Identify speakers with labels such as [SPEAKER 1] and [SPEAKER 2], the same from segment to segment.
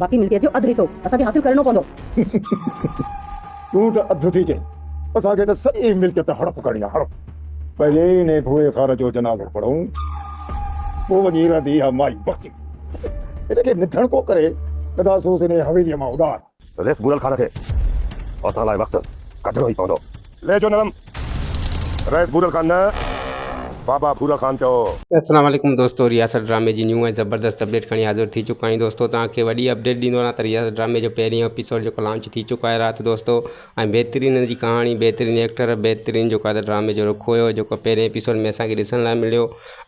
[SPEAKER 1] باقي ملڪيت جو اڌ حصو اسان کي حاصل ڪرڻو پوندو.
[SPEAKER 2] تون ته اڌ ٿي چئين، اسان کي ته سڄي ملڪيت هڙپ ڪرڻي آهي هڙپ. پهرين هن ڀوئي خار جو جنازو پڙهون، پوء وڃي رهندي اها مائي بختي. هن کي نڌڻ ڪو ڪري، گدا سوز هن حويليء مان اڏار. ريس گهريل خار کي
[SPEAKER 3] اسان لاء وقت ڪڍڻو ئي پوندو. لهجو نرم رئيس ڀورل خان نه بابا ڀورل خان چئو. السلام عليڪم دوستو
[SPEAKER 4] رياست ڊرامي جي نيون ۽ زبردست اپڊيٽ کڻي حاضر ٿي چڪا آهيون دوستو توهان کي وڏي اپڊيٽ ڏيندو رهان ته رياست ڊرامي جو پهريون ايپيسوڊ جيڪو لانچ ٿي چڪو آهي رات دوستو ۽ بهترين ان جي ڪهاڻي بهترين ايڪٽر بهترين جيڪو آهي ته ڊرامي جو رخ هيو جيڪو پهرين ايپيسوڊ ۾ اسان کي ڏسڻ لاء مليو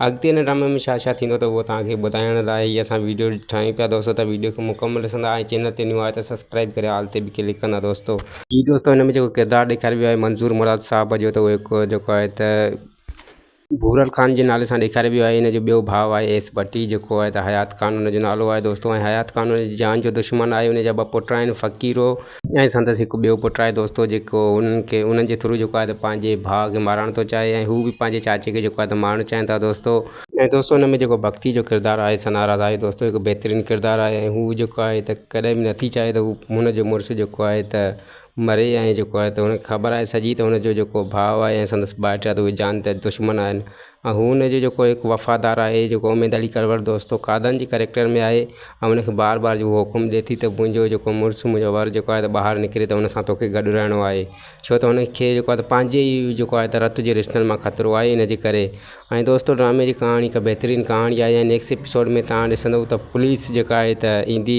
[SPEAKER 4] اڳتي هن ڊرامي ۾ ڇا ڇا ٿيندو ته اهو توهان کي ٻڌائڻ لاء هي اسان ويڊيو ٺاهيون پيا دوستو ته ويڊيو کي مڪمل ڏسندا ۽ چينل تي نيو آهيو ته سبسڪرائيب ڪري آل تي به ڪلڪ ڪندا دوستو. جي دوستو هن ۾ جيڪو ڪردار ڏيکاريو ويو آهي منظور مراد صاحب جو ته اهو هڪ جيڪو آهي ته ڀورل خان جي نالي سان ڏيکاريو ويو آهي هن جو ٻيو ڀاء آهي ايس ڀٽي جيڪو آهي ته حيات خان هن جو نالو آهي دوستو ۽ حيات خان هن جي جان جو دشمن آهي هن جا ٻه پٽ آهن فقيرو ۽ سندس هڪ ٻيو پٽ آهي دوستو جيڪو انهن کي انهن جي ٿرو جيڪو آهي ته پنهنجي ڀاء کي مارڻ ٿو چاهي ۽ هو به پنهنجي چاچي کي جيڪو آهي ته مارڻ چاهين ٿا دوستو ۽ دوستو ان ۾ جيڪو ڀڳتي جو ڪردار آهي سنا راز آهي دوستو هڪ بهترين ڪردار آهي ۽ هو جيڪو آهي ته ڪڏهن به نٿي چاهي ته هو هن جو مڙس جيڪو آهي ته مري ۽ جيڪو آهي ته هن کي خبر آهي سڄي ته هن جو جيڪو ڀاء آهي ۽ سندس ڀائٽ آهي ته اهي جان ته دشمن آهن ۽ هو ان جو جيڪو هڪ وفادار آهي جيڪو اميد علي ڪرور دوستو قادن جي ڪريڪٽر ۾ آهي ۽ ان کي بار بار اهو حڪم ڏئي ٿي ته منهنجو جيڪو مڙس منهنجو ور جيڪو آهي ته ٻاهر نڪري ته ان سان توکي گڏ رهڻو آهي ڇو ته هن کي جيڪو آهي ته پنهنجي ئي جيڪو آهي ته رت جي رشتن مان خطرو آهي ان جي ڪري ۽ دوستو ڊرامي جي ڪهاڻي هڪ بهترين ڪهاڻي آهي ۽ نيڪسٽ ايپيسوڊ ۾ تان ڏسندو ته پوليس جيڪا آهي ته ايندي